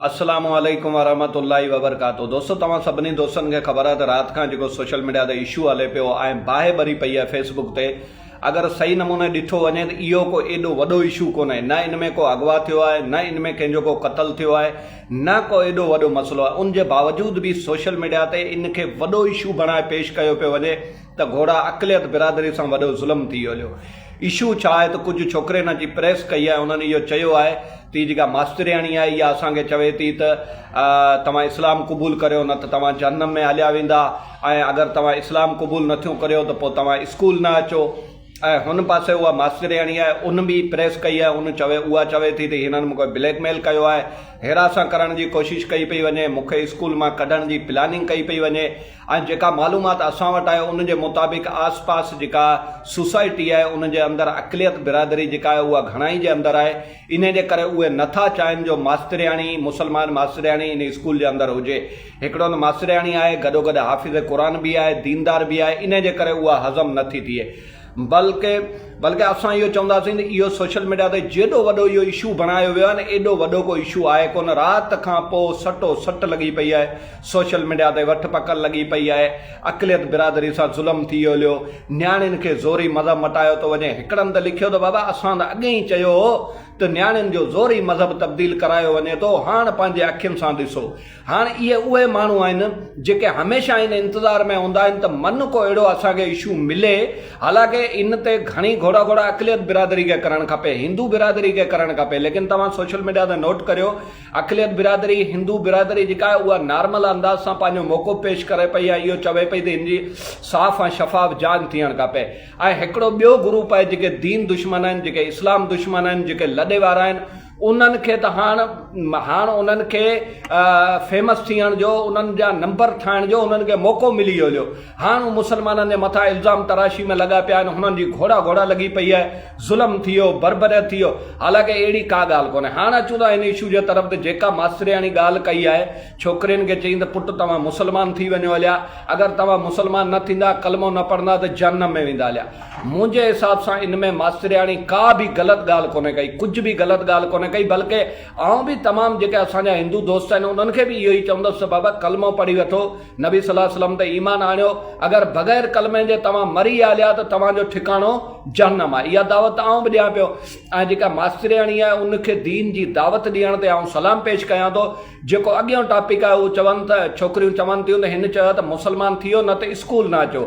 السلام عليڪم ورحمة الله وبرڪاته دوستو توهان سڀني دوستن کي خبر آهي ته رات کان جيڪو سوشل ميڊيا تي اشو هلي پيو ۽ باهه ٻري پئي آهي فيس بڪ تي اگر صحيح نموني ڏٺو وڃي ته اهو ڪو ايڏو وڏو اشو ڪونهي نه ان ۾ ڪو اغوا ٿيو آهي نه ان ۾ ڪنهن جو ڪو قتل ٿيو آهي نه ڪو ايڏو وڏو مسئلو آهي ان جي باوجود به سوشل ميڊيا تي ان کي وڏو اشو بڻائي پيش ڪيو پيو وڃي ته گهوڙا اقليت برادري سان وڏو ظلم ٿي ويو هليو اشو ڇا آهي ته ڪجهه ڇوڪرين اچي پريس ڪئي آهي انهن اهو چيو آهي ته هي جيڪا ماسترياڻي آهي اها اسان کي چوي ٿي ته توهان اسلام قبول ڪريو نه ته توهان جهنم ۾ هليا ويندا ۽ اگر توهان اسلام قبول نه ٿيون ڪريو ته پوء توهان اسڪول نه اچو ۽ هن پاسي اها ماسترياڻي آهي ان به پريس ڪئي آهي ان چوي اها چوي ٿي ته هنن مون کي بليڪ ميل ڪيو آهي هراسان ڪرڻ جي ڪوشش ڪئي پئي وڃي مون کي اسڪول مان ڪڍڻ جي پلاننگ ڪئي پئي وڃي ۽ جيڪا معلومات اسان وٽ آهي ان جي مطابق آس پاس جيڪا سوسائٽي آهي ان جي اندر اقليت برادري جيڪا آهي اها گهڻائي جي اندر آهي انهي جي ڪري اهي نه ٿا چاهين جو ماسترياڻي مسلمان ماسترياڻي ان اسڪول جي اندر هجي هڪڙو ته ماسترياڻي آهي گڏوگڏ حافظ قرآن به آهي ديندار به آهي انهي جي ڪري اها هضم نه ٿي ٿئي بلڪ بلڪ اسان اهو چونداسين ته اهو سوشل ميڊيا تي جيڏو وڏو اهو اشو بڻايو ويو آهي نه ايڏو وڏو ڪو اشو آهي ڪونه رات کان پو سٽو سٽ لڳي پئي آهي سوشل ميڊيا تي وٺ پڪڙ لڳي پئي آهي اقليت برادري سان ظلم ٿي هليو نياڻين کي زوري مذهب مٽايو ٿو وڃي هڪڙن ته لکيو ته بابا اسان ته اڳي ئي چيو هو ته نياڻين جو زوري مذهب تبديل ڪرايو وڃي ٿو هاڻ پنهنجي اکين سان ڏسو هاڻ اهي اهي ماڻهو آهن جيڪي هميشه ان انتظار ۾ هوندا آهن ته من ڪو اهڙو اسان کي اشو ملي حالانڪه ان تي گهڻي گهوڙا گهوڙا اقليت برادري کي ڪرڻ کپي هندو برادري کي ڪرڻ کپي ليڪن توهان سوشل ميڊيا تي نوٽ ڪريو اقليت برادري هندو برادري جيڪا آهي اها نارمل انداز سان پنهنجو موقعو پيش ڪري پئي ۽ اهو چوي پئي ته هن جي صاف ۽ شفاف جانچ ٿيڻ کپي ۽ هڪڙو ٻيو گروپ آهي جيڪي دين دشمن آهن جيڪي اسلام دشمن آهن جيڪي لڏي وارا آهن انهن کي ته هاڻ هاڻ انهن کي فيمس ٿيڻ جو انهن جا نمبر ٺاهڻ جو انهن کي موقعو ملي ويو جو هاڻ هو مسلمانن جي مٿان الزام تراشي ۾ لڳا پيا آهن هنن جي گهوڙا گهوڙا لڳي پئي آهي ظلم ٿي ويو بربريت ٿي ويو حالانڪه اهڙي ڪا ڳالهه ڪونهي هاڻ اچون ٿا هن اشو جي طرف ته جيڪا ماسترياڻي ڳالهه ڪئي آهي ڇوڪرين کي چيائين ته پٽ توهان مسلمان ٿي وڃو هليا، اگر توهان مسلمان نه ٿيندا، ڪلمو نه پڙهندا ته جهنم ۾ ويندا هليا. منهنجي حساب سان ان ۾ ماسترياڻي ڪا به غلط ڳالهه ڪونهي ڪئي، ڪجهه به غلط ڳالهه ڪونهي ڪئي بلڪه آئون به تمام جيڪي اسان جا هندو دوست آهن انهن کي به اهو ئي چوندس ته بابا ڪلمو پڙهي وٺو، نبي صلي وسلم تي ايمان آڻيو، اگر بغير ڪلمي جي توهان مري ويا هليا ته توهان جو ٺڪاڻو جهنم آهي. اها دعوت ته آئون به ڏيان پيو ۽ جيڪا ماسترياڻي آهي ان کي دين جي دعوت ڏيڻ تي آئون سلام پيش ڪيان ٿو. جيڪو اڳيون ٽاپڪ آهي اهو چون ته ڇوڪريون چون ٿيون ته هن چيو ته مسلمان ٿيو نه ته اسڪول نه اچو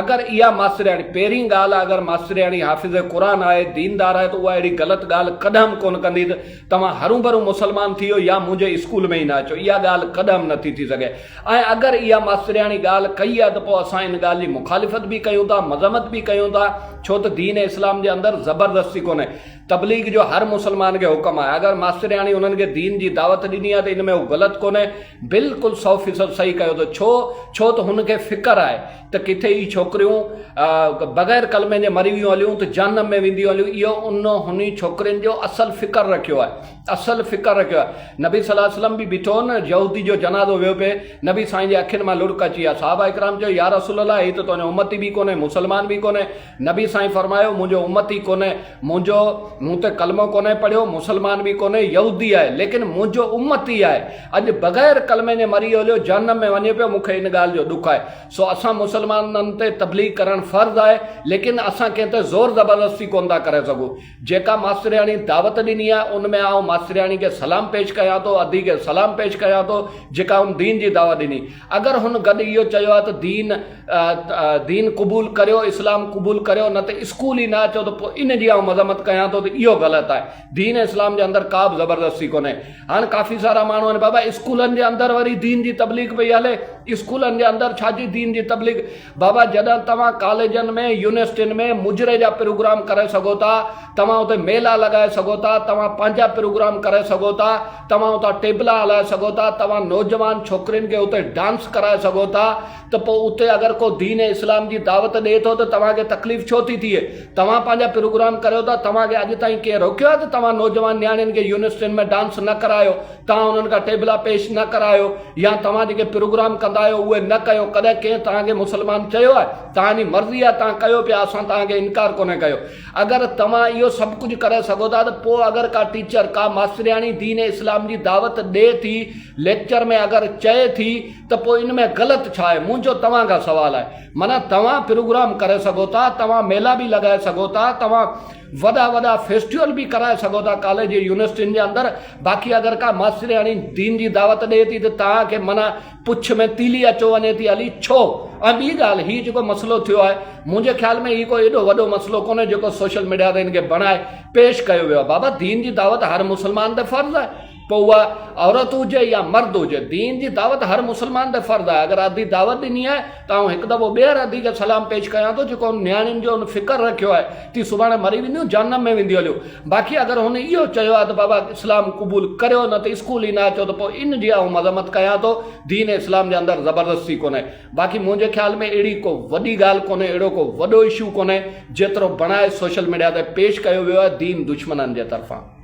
اگر اها ماسترياڻي پهرين ڳالهه اگر ماسترياڻي حافظ قرآن آهي ديندار آهي ته اها اهڙي غلط ڳالهه ڪڏهم ڪونه ڪندي ته توهان هرون ڀرون مسلمان ٿيو يا منهنجي اسڪول ۾ ئي نه اچو اها ڳالهه ڪڏهم نه ٿي ٿي سگهي ۽ اگر اها ماسترياڻي ڳالهه ڪئي آهي ته پوء اسان ان ڳالهه جي مخالفت به ڪيون ٿا مذمت به ڪيون ٿا ڇو ته دين اسلام جي اندر زبردستي ڪونهي تبليغ جو هر مسلمان کي حڪم آهي اگر ماسترياڻي انهن کي دين جي دعوت ڏني آهي ته ان ۾ هو غلط ڪونهي بلڪل سؤ فيصد صحيح ڪيو اٿو ڇو ڇو ته هن کي فڪر آهي ته ڪٿي هي ڇوڪريون بغير ڪلمي جي مري ويون هليون ته جهنم ۾ وينديون هليون اهو ان هني ڇوڪرين جو اصل فڪر رکيو آهي اصل فڪر رکيو آهي نبي صلي الله عليه وسلم به بيٺو هو نه يهودي جو جنازو ويو پئي نبي سائين جي اکين مان لڙڪ اچي ويا صحابه اڪرام چيو يا رسول الله هي ته تنهنجو امتي به ڪونهي مسلمان به ڪونهي نبي سائين فرمايو، منهنجو امتي ڪونهي، منهنجو مون تي ڪلمو ڪونهي پڙهيو، مسلمان به ڪونهي، يهودي آهي، ليڪن منهنجو امتي آهي، اڄ بغير ڪلمي جي مري هليو جهنم ۾ وڃي پيو، مون کي ان ڳالهه جو ڏک آهي، سو اسان مسلمانن تي تبليغ ڪرڻ فرض آهي، ليڪن اسان ڪنهن تي زور زبردستي ڪونه ٿا ڪري سگهون. جيڪا ماسترياڻي دعوت ڏني آهي ان ۾ آئون ماسترياڻي کي سلام پيش ڪيان ٿو، ادي کي سلام پيش ڪيان ٿو جيڪا هن دين جي دعوت ڏني. اگر هن گڏ اهو چيو آهي ته دين دين قبول ڪريو اسلام قبول ڪريو نه ته اسڪول ئي نه اچو ته پوء ان جي آئون مذمت ڪيان ٿو ته اهو غلط آهي. دين اسلام جي اندر ڪابه زبردستي ڪونهي. هاڻ ڪافي سارا ماڻهو آهن بابا اسڪولن جي اندر وري دين جي تبليغ پئي هلي اسڪولن جي اندر ڇا جي دين جي تبليغ. بابا جڏھن توھان ڪاليجن ۾ يونيورسٽين ۾ مجري جا پروگرام ڪري سگھو ٿا توھان اتي ميلا لڳائي سگھو ٿا توھان پنھنجا پروگرام ڪري سگھو ٿا توھان اتان ٽيبلا ھلائي سگھو ٿا توھان نوجوان ڇوڪرين کي اتي ڊانس ڪرائي سگھو ٿا ته پوء اتي اگر ڪو دين اسلام جي دعوت ڏئي ٿو ته توھان کي تڪليف ڇو ٿي ٿئي توھان پنھنجا پروگرام ڪريو ٿا توھان کي اڄ تائين ڪنھن روڪيو آھي ته توھان نوجوان نياڻين کي يونيورسٽين ۾ ڊانس نه ڪرايو توهان انهن کان ٽيبلا پيش نه ڪرايو يا توهان جيڪي پروگرام ڪندا آهيو اهي نه ڪيو ڪڏهن ڪنهن توهان کي مسلمان چيو آهي؟ توهان جي مرضي آهي توهان ڪيو پيا اسان توهان کي انڪار ڪونهي ڪيو اگر توهان اهو سڀ ڪجهه ڪري سگهو ٿا ته پوء اگر ڪا ٽيچر ڪا ماسترياڻي دين اسلام جي دعوت ڏي ٿي ليڪچر ۾ اگر چئي ٿي ته پوء ان ۾ غلط ڇا آهي منهنجو توهان کان سوال آهي معنيٰ توهان پروگرام ڪري سگهو ٿا توهان ميلا به لڳائي سگهو ٿا توهان وڏا وڏا فيسٽيول به ڪرائي سگهو ٿا ڪاليج يونيورسٽين جي اندر باقي اگر ڪا ماسترياڻي دين جي دعوت ڏئي ٿي ته توهان کي معنيٰ پڇ ۾ تيلي اچو وڃي ٿي علي ڇو ۽ ٻي ڳالهه هي جيڪو مسئلو ٿيو آهي منهنجي خيال ۾ هي ڪو ايڏو وڏو مسئلو ڪونهي جيڪو سوشل ميڊيا تي هن کي بڻائي پيش ڪيو ويو آهي بابا دين جي دعوت هر مسلمان تي فرض آهي پوء اها عورت هجي يا مرد هجي، دين جي دعوت هر مسلمان تي فرض آهي. اگر ادي دعوت ڏني آهي ته آئون هڪ دفعو ٻيهر ادي کي سلام پيش ڪيان ٿو جيڪو هن نياڻين جو هن فڪر رکيو آهي تي سڀاڻي مري وينديون جهنم ۾ وينديون هليون باقي اگر هن اهو چيو آهي ته بابا اسلام قبول ڪريو نه ته اسڪول ئي نه اچو ته پوء ان جي آئون مذمت ڪيان ٿو دين اسلام جي اندر زبردستي ڪونهي باقي منهنجي خيال ۾ اهڙي ڪو وڏي ڳالهه ڪونهي اهڙو ڪو وڏو اشو ڪونهي جيترو بڻائي سوشل ميڊيا تي پيش ڪيو ويو آهي دين دشمنن جي طرفان.